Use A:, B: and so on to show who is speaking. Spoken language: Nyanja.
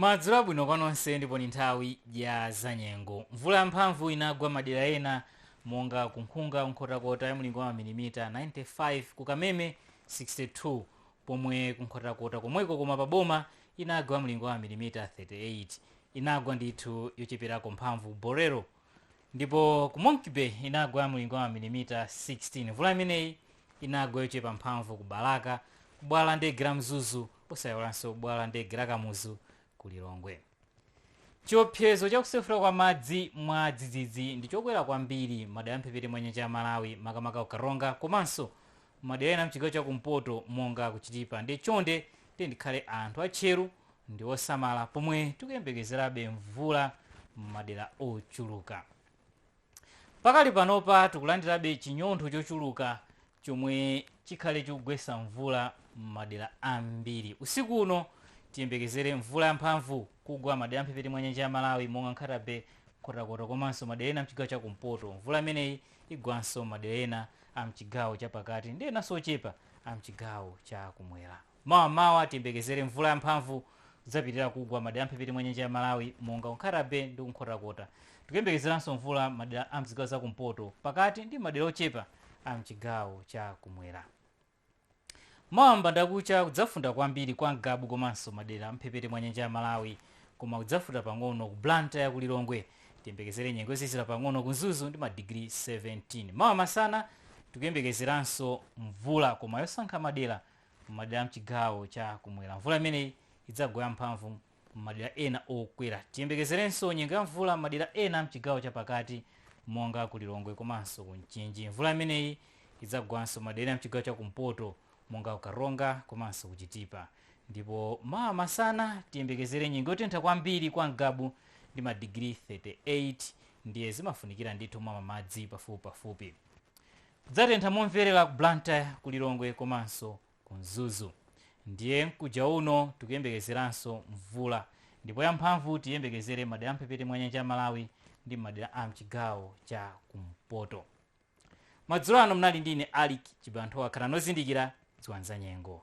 A: Madzulo abwino kwa nonse ndipo ndi nthawi ya zanyengo. Mvula yamphamvu inagwa madera ena monga ku Nkhunga, Nkhotakota ya mlingo wa mamilimita 95, ku Kameme 62 pomwe ku Nkhotakota komweko koma pa boma inagwa mlingo wa mamilimita 38. Inagwa ndithu yocheperako mphamvu ku Bolero. Ndipo ku Monkey-Bay inagwa ya mlingo wa mamilimita 16. Mvula imeneyi inagwa yochepa mphamvu ku Balaka, ku bwalo la ndege la Mzuzu osaiwalanso bwalo la ndege la Kamuzu ku Lilongwe. Chiopsezo cha kusefukira kwa madzi mwadzidzidzi ndi chokwera kwambiri m'madera a m'mphepete mwa nyanja ya Malawi makamaka ku Karonga komanso madera ena mchigawo cha kumpoto monga ku chitipa ndiye chonde tiyeni tikhale anthu atcheru ndi osamala pomwe tikuyembekezerabe mvula m'madera ochuluka pakali panopa tikulandirabe chinyontho chochuluka chomwe chikhale chikugwetsa mvula m'madera ambiri usiku uno tiyembekezere mvula yamphamvu kugwa madera amphepete mwa nyanja ya malawi monga nkhata bay nkhotakota komanso madera ena mchigawo cha kumpoto mvula imeneyi igwanso madera ena a mchigawo cha pakati ndi enanso ochepa a mchigawo cha kumwera. Mawa mawa tiyembekezere mvula ya mphamvu kudzapitirira kugwa madera a mphepete mwa nyanja ya Malawi monga ku Nkhata Bay ndi ku Nkhotakota. Tikuyembekezeranso mvula madera a mzigawo za kumpoto, pakati ndi madera ochepa a mchigawo cha kumwera. Mawa m'bandakucha kudzafunda kwambiri kwa Ngabu komanso madera a m'mphepete mwa nyanja ya Malawi koma kudzafunda pang'ono ku Blantyre, ku Lilongwe tiyembekezere nyengo yozizira pang'ono ku Mzuzu ndi madigiri 17. Mawa masana tikuyembekezeranso mvula koma yosankha madera m'madera a m'chigawo cha kumwera. Mvula imeneyi idzagwa yamphamvu m'madera ena okwera. Tiyembekezerenso nyengo ya mvula m'madera ena a m'chigawo cha pakati monga ku Lilongwe komanso ku Mchinji. Mvula imeneyi idzagwanso m'madera ena m'chigawo cha kumpoto monga ku Karonga komanso ku Chitipa. Ndipo mawa masana tiyembekezere nyengo yotentha kwambiri kwa Ngabu ndi madigiri 38 ndiye zimafunikira ndithu kumamwa madzi pafupipafupi. Kudzatentha momverera ku Blantyre, ku Lilongwe komanso ku mzuzu ndiye mkuja uno tikuyembekezeranso mvula ndipo yamphamvu tiyembekezere m'madera amphepete mwa nyanja ya malawi ndi m'madera a mchigawo cha kumpoto madzulo ano mnali ndi ine alick chibanthowa khalani ozindikira dziwani za nyengo